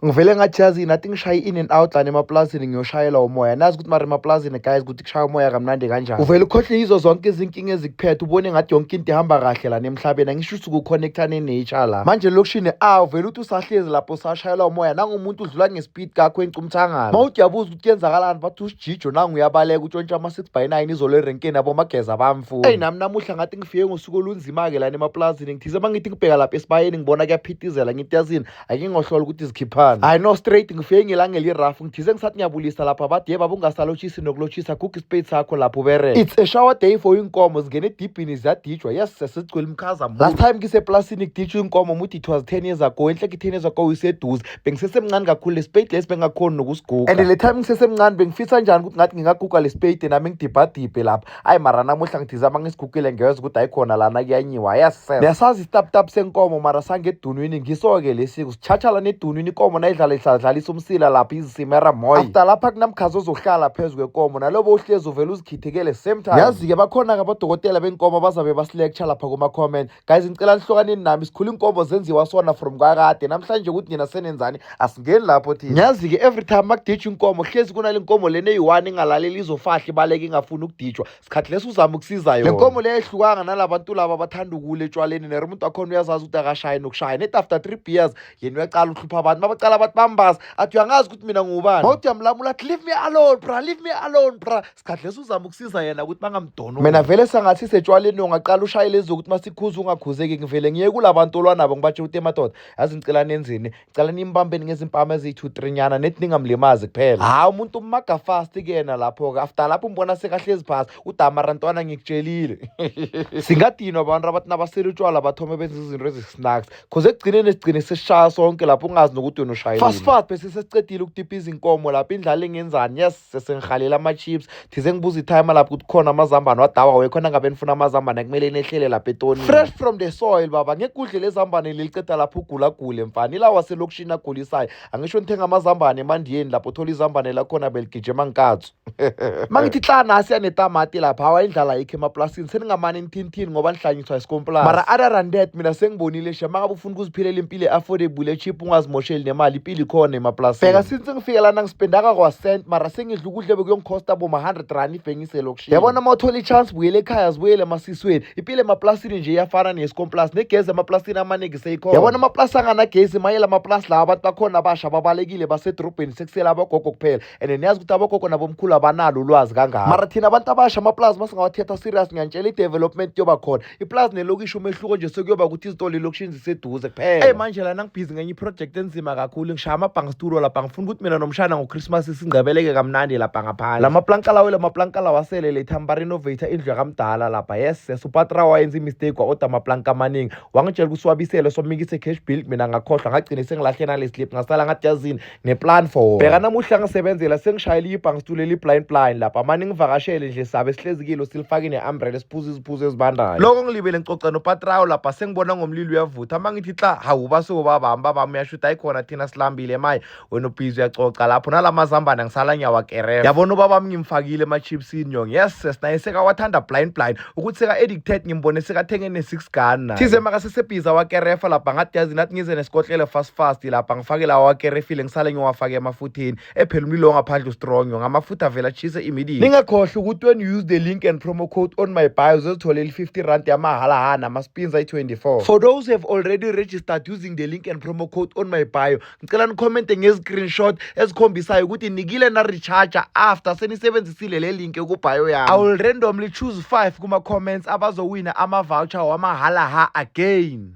ngivele ngathi yazi nathi ngishaye in and out lana emapulazini ngiyoshayelwa umoya nazi ukuthi mara emapulazini guys ukuthi kushaya umoya kamnandi kanjani uvele ukhohlwe yizo zonke izinkinga ezikuphethe ubone ngathi yonke into ihamba kahle lana emhlabeni angisho ukuthi ukuconnecta ne-nature la manje lokishini a uvele ukuthi usahlezi lapho usashayelwa umoya nangomuntu udlula ngespeed kakho encumthangala ma uthi yabuza ukuthi kuyenzakalani bathi usijijo nangu uyabaleka utshontsha ama-six by nine izolo erenkeni abomageza bamfuni eyi nami namuhla ngathi ngifike ngosuku olunzima-ke lana emapulazini ngithize uma ngithi ngibheka lapha esibayeni ngibona kuyaphithizela ngithi yazini ake ngohlola ukuthi zikhiphani hayi no straight ngifike ngelanga elirough ngithize ngisathi ngiyabulisa lapha bathi yeba bungasalotshisi nokulotshisa guga isipade sakho lapho ubereka it's a shower day for inkomo zingena edibhini ziyadijwa yes sesigcwele umkhaza last time ngiseplasini kudijwa inkomo muthi it was 10 years ago enhle ki-10 years ago iseduze bengisesemncane kakhulu lesipade lesi bengakhoni nokusiguga and le time ngisesemncane bengifisa njani ukuthi ngathi ngingaguga lesipade nami ngidibhadibhe lapha ayi mara namuhla ngithi zama ngisigugile ngiyeza ukuthi ayikhona lana kuyanyiwa ayasisela besazi isitaputap senkomo mara sangedunwini ngiso-ke lesiko sitshatshala nedunwini ikomo nayidlala ihladlalisa umsila lapho izisimera moya after lapha kunamkhazi ozohlala phezu kwekomo nalobo uhlezi uvele uzikhithekele same time yazi-ke bakhona-ke abodokotela benkomo bazabe basilecture lapha kuma-comment guys ngicela nihlokaneni nami sikhula inkomo zenziwa sona from kwakade namhlanje ukuthi nina senenzani asingeni lapho thina ngiyazi-ke every time makuditshwa inkomo hlezi kunale nkomo lena eyi-one ingalaleli izofahla ibaleke ingafuni ukuditshwa sikhathi lesi uzama ukusiza yona le nkomo le ehlukanga nalabantu laba abathanda ukule etshwaleni nere umuntu wakhona uyazazi ukuthi akashaye nokushaya net after three beers yena uyacala uhlupha abantu babacala abantu bambaza athi uyangazi ukuthi mina ngubani mawuthi uyamlamula athi leave me alone bra leave me alone bra sikhathi lesi uzama ukusiza yena ukuthi bangamdoni mina vele sangathi setshwaleni ungaqala ushaye lezi zokuthi masikhuza ungakhuzeki ngivele ngiye kula bantu olwanabo ngibatshela ukuthi emadoda yazi ngicela nenzini ngicela nimbambeni ngezimpama eziyi-two three nyana nethi ningamlimazi kuphela hhayi umuntu umaga fast kuyena lapho-ke after lapho umbona sekahlezi phasi udamara ntwana ngikutshelile singadinwa abantu abathi nabasele utshwala bathome benza izinto ezisnacks cause ekugcineni esigcine sesishaya sonke lapho ungazi nokuthi wena ushayile fast fast besesesicedile ukudipha izinkomo lapho indlala ingenzani yes sesengihalela ama-chips thize ngibuza ithayima lapho ukuthi khona amazambane wadawa wekhona ngabe nifuna amazambane kumele nehlele lapha etoni fresh from the soil baba ngekudle lezambane liliceda lapho ugulagule mfana ilawa selokishini agulisayo angisho nithenga amazambane emandiyeni lapho thola izambane lakhona beligije mankatsu mangithi tla nasi yanetamati lapha hawa indlala ayikho emaplasini seningamane nithintini ngoba nihlanyiswa isikomplasi mara other than that mina sengibonile sha mangabe ukuziphilela impilo e-affordable e-cheap ungazimosheli nemali impilo ikhona emaplasini bheka since ngifike lana ngispendaka kwasent mara sengidla ukudla bekuyongikhosta boma 100 rand ibhengise lokushiya yabona uma uthola i-chance buyele ekhaya zibuyele emasisweni impilo emaplasini nje iyafana neyesikomplas negezi emaplasini amaningi seyikhona yabona amaplasi anganagezi mayela amaplasi lawo abantu bakhona abasha babalekile basedorobheni sekusela abogogo kuphela and niyazi ukuthi abogogo nabomkhulu abanalo ulwazi kangako mara thina abantu abasha amaplasi masingawathetha serious ngiyantshela i-development yoba khona iplazi nelokishi umehluko nje sekuyoba ukuthi izitolo elokishini ziseduze kuphela eyi manje lana ngibhizi ngenye iprojekthi enzima kakhulu ngishaya amabhanga situlo lapha ngifuna ukuthi mina nomshana ngochristmas singcebeleke kamnandi lapha ngaphandle la maplanka lawo la maplanka lawo asele letha mbarenovator indlu yakamdala lapha yes yes upatra wayenza imistake wa-oda amaplanka amaningi wangitshela ukuthi siwabisele somikise cash build mina ngakhohlwa ngagcine sengilahle naleslip ngasala ngathi yazini ngeplan for wona bheka namuhla ngisebenzela sengishayela ibhangi situlo eliblind blind lapha mani ngivakashele nje sabe sihlezikile silifake ne-umbrella siphuza iziphuzo ezibandayo lokho ngilibele ngicoca nopatrawo lapha sengibona ngomlilo uyavutha uma ngithi xa hawu basuko babami babami uyashuda ayikhona thina silambile maye wena ubhizi uyacoca lapho nala mazambane ngisala ngiyawakereva yabona ubabami ngimfakile ema-chipsini yong yes sesinaye sekawathanda blind blind ukuthi seka-addicted ngimbone sekathenge ne-six gun naye thize makasesebhiza wakerefa lapha ngathi yazi nathi ngize nesikotlele fast fast lapha ngifake lawa wakerefile ngisale ngiwafake emafutheni ephela umlilo ongaphandle ustrong yo ngamafutha avele atshise immediate ningakhohlwa ukuthi when you use the link and promo code on my bio uzozithola eli-50 rand yamahhala hana amaspins ayi-24 for those who have already registered using the link and promo code on my bio ngicela nikhomente nge-screenshot esikhombisayo ukuthi nikile na-recharge after senisebenzisile le link ekubhayo yami i will randomly choose 5 kuma-comments abazowina ama-voucher wamahhala ha again